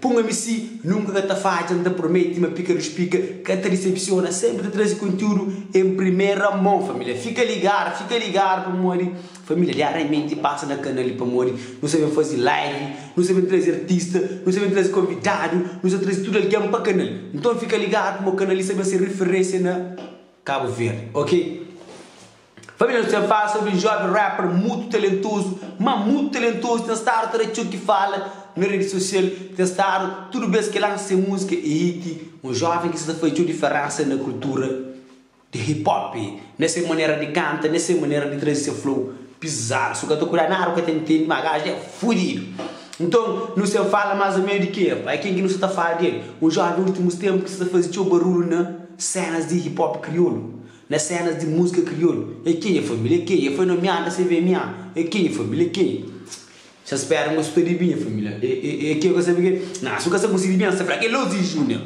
Pum MC nunka ka ta fadja, n'ta promete ma pika dos pika ka ta disepsiona, sempre ta traze kontiúdu em primera mão família fika ligado fika ligado pamodi família diariamente passa na canal li pamodi nos ta bem faze live nos ta bem traze artista nos ta bem traze convidado nos ta traze tudo alguém pa canal então fika ligado pamodi canal li sa bem ser referência na Cabo Verde ok. Família nos ten fala sobri un jóven rapper mutu talentozu, má mutu talentozu ten stadu ta da txeu ki fala na redi sosial. Ten stadu tudu bês ki el lansa se múzika é hit, un jóven ki sta ta faze txeu diferénsa na kultura di hip-hop, na se manera di kanta, na se manera di traze se flow pizadu. Si bu ka ta kuda nada, bu ka ta intende ma gaje é fudidu. Nton, nos ten fala más ô ménus di ki é pa é ken ki nu sta ta fala di el? Un jóven últimus ténpu ki sta ta faze txeu barulhu na sénas di hip-hop kriolu. Na sénas di múzika kriolu. E kenha família e kenha? E foi nomiada sem ver nha E kenha família e kenha? Sa spera ma su ta dibinha família e e e kenha ka sabe ken Nha su ka sa kusi dibinha sa fla ke Lozir Junior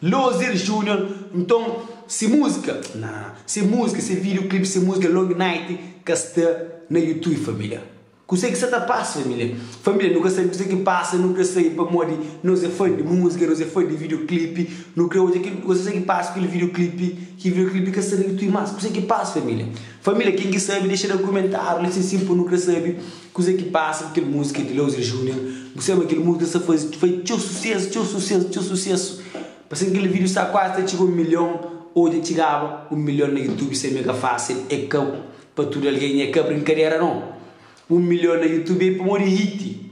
Lozir Junior Nton se múzika Nha se múzika se vídeo klip se múzika Long Night ka sta na Youtui família. Kuse ki sa ta pasa família? Família nu ka sabe kuse ki pasa, nu kre sabe pamodi nos é fã di múzika, nos é fã di videoclipe, nu kre odja kel gosi sa ki pasa ku kel videoclipe, ki videoclipe ka sta na youtube más, kuse ki pasa família? Família ken ki sabe dexa na kumentáriu li sin sin pa nu kre sabe kuse ki pasa ku kel múzika di Lauser Junior, bu sabe ma kel múzika sa faze faze txeu susésu, txeu susésu, txeu susésu pa sen kel vídeo sta kuazi ta txiga un milhon, odja txigaba un milhon na youtube sem é ka fásil, é ka. Pa tudo alguém nha ka brincadeira não Um milhão na youtube é pamodi hit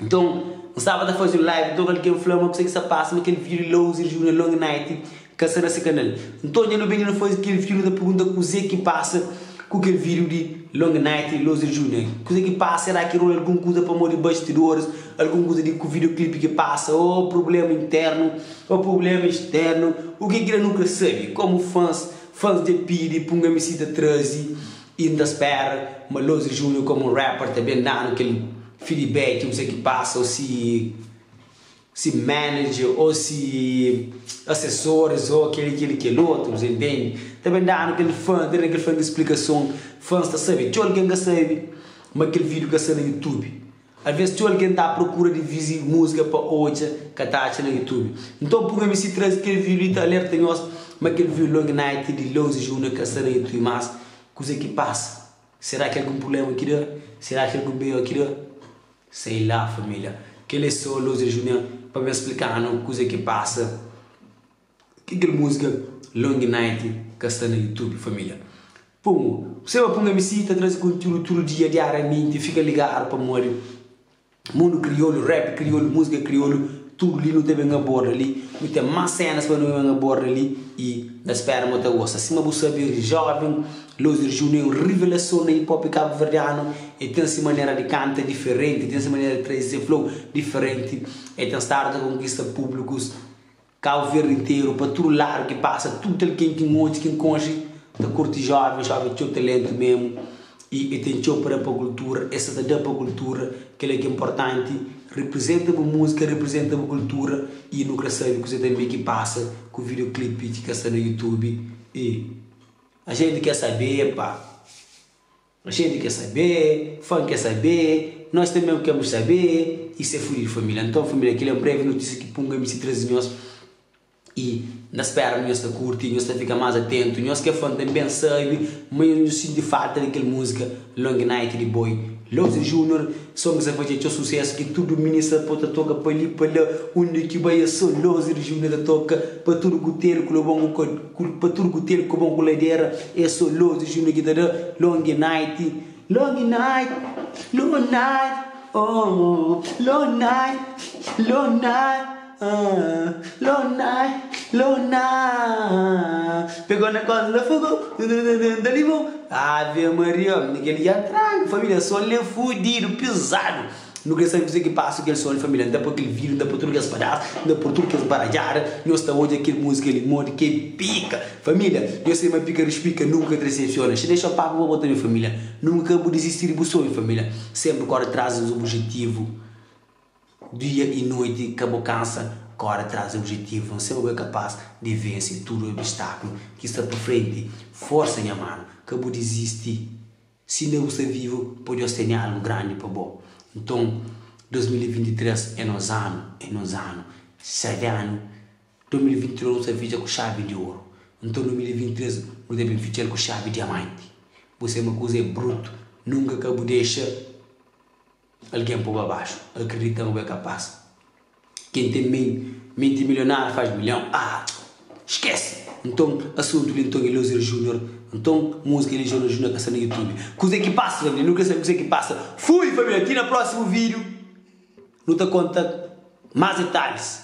Então N stava ta fazi un live Então alguém fla ma kusa ki sa pasa ma kel video la uzi rijiu na long night ka sa na se canal Então nha nu bem li na fazi kel video nu ta pergunta kuzê ki pasa ku kel video di long night la uzi rijiu na Kuzê ki pasa será ki rola algun kusa pamodi bastidores algun kusa di ku video clip ki pasa oh problema interno oh problema externo o ki ki da nu kre sabi como fans Fans dja pidi pu ngamicita trazi i n ta spera ma Lose Junior komu rapper ta ben danu kel feedback nse ki pasa o si si manager o si assessores o kel i kel i kel otu nse intendi ta ben danu kel fans ta danu kel fans kel splikason fans ta sabe txeu algen ka sabe ma kel video ka sta na youtube Alvês txeu algen ta aprokura divizi múzika pa odja, ka ta atxa na YouTube. Nton pur bbc traze kel vídiu i ta alerta nhos ma kel víu Long Night di Lozy Junior ka sta na YouTube más. Kuza ki pasa? Será ki algun prubléma ki da? Será ki algun BO ki da? Sei lá, família. Kel é sô Lozy Junior pa ben splika-nu kuza ki pasa. Ki kel musika long night ka sta na youtube família. Pum se ba punga msi ta trazi kontiúdu tudu dia diariamente fika ligadu pamodi mundu kriolu rap kriolu musika kriolu tudu li nu ta ben aborda li nu ten más sénas pa nu ben aborda li y na spera mo ta gosta sima bu sabi er joven loser junior é un rivelason na hip hop kabuverdianu e ten si manera di kanta diferenti ten si manera di trazi se flow diferenti e ten stadu ta konkista publikus Kau Verdi interu, pa tudu ladu ki pasa, tudu algen ki N odja, ki N konxe, ta kurti jóven. Jóven txeu taléntu memu i el ten txeu pa da pa kultura. El sta ta da pa kultura, kel-la ki é inportanti. Reprizenta bu múzika, reprizenta bu kultura i nu kre sabe kuzê tanbê ki pasa ku videoklipi ki ka sta na YouTube. E ajenti kre sabê, pa! Xenti ke sabê, fan ke sabê, nos tanbê ke bu sabê, i se fudi di família. Nton, família, kel-li é un brevi notisia ki Punga MC traze nhos i N ta spera ma nhos ta kurti, nhos ta fika más atentu. Nhos ke fan tanbê N sabe ma nhos dja sinti falta di kel múzika Long Night di Boi, Lozy Junior. Song sa fadja txeu sucesso ki tudo ministra pô ta toca pa li pa la unde ki bai é so los e Junior ta toca pa tudo ku tel ku lobon ku pa tudo ku tel ku bon ku ladera é so los e Junior ki ta da long night long night long night oh long night long night. Lona, lona, pegó na kóla na fogo, dundududu da limon. Ave Maria, ómi, na kel dja traga, família, sol li é fudidu, pizadu. Nu krê sabe kuzê ki pasa ku kel sol, família, N ta poi kel vidru, N ta poi tudu kes padasa, N ta poi tudu kes baradjada, nhos ta odja kel múzika li, modi ki é pika. Família, nhos sai ma pika rispika nunka ta desepsiona, xa dexa pagu pa bo tanbê, família, nunka ka bu dizisti di bu sonhu, família, sénpri kóre tras nhos obijetivu. Dia y noiti ka bu kansa, kóre atrás objetivu, n seba bu é kapás di vense tudu obistáklu ki sta pa frenti, forsa nha manu, ka bu dizisti, si inda bu sta vivu pa djós tene algu grandi pa bo, nton 2023 é nos anu, é nos anu, sai di anu 2022 nu ta fitxa ku xavi di oru, nton 2023 nu ta ben fitxal ku xavi diamanti, bu sai ma kuza é brutu, nunka ka bu dexa. Algen poba baxu al kridita ma bu é kapas Ken ten men menti milionáriu faz milhon ah Skese Nton asuntu li nton é Lozer Junior Nton múzika é li Jona Junior ka sta na YouTube Kuzé ki pasa família nu krê sabe kuzé ki pasa Fui família ti na prósimu vídiu nu ta konta más detalhis.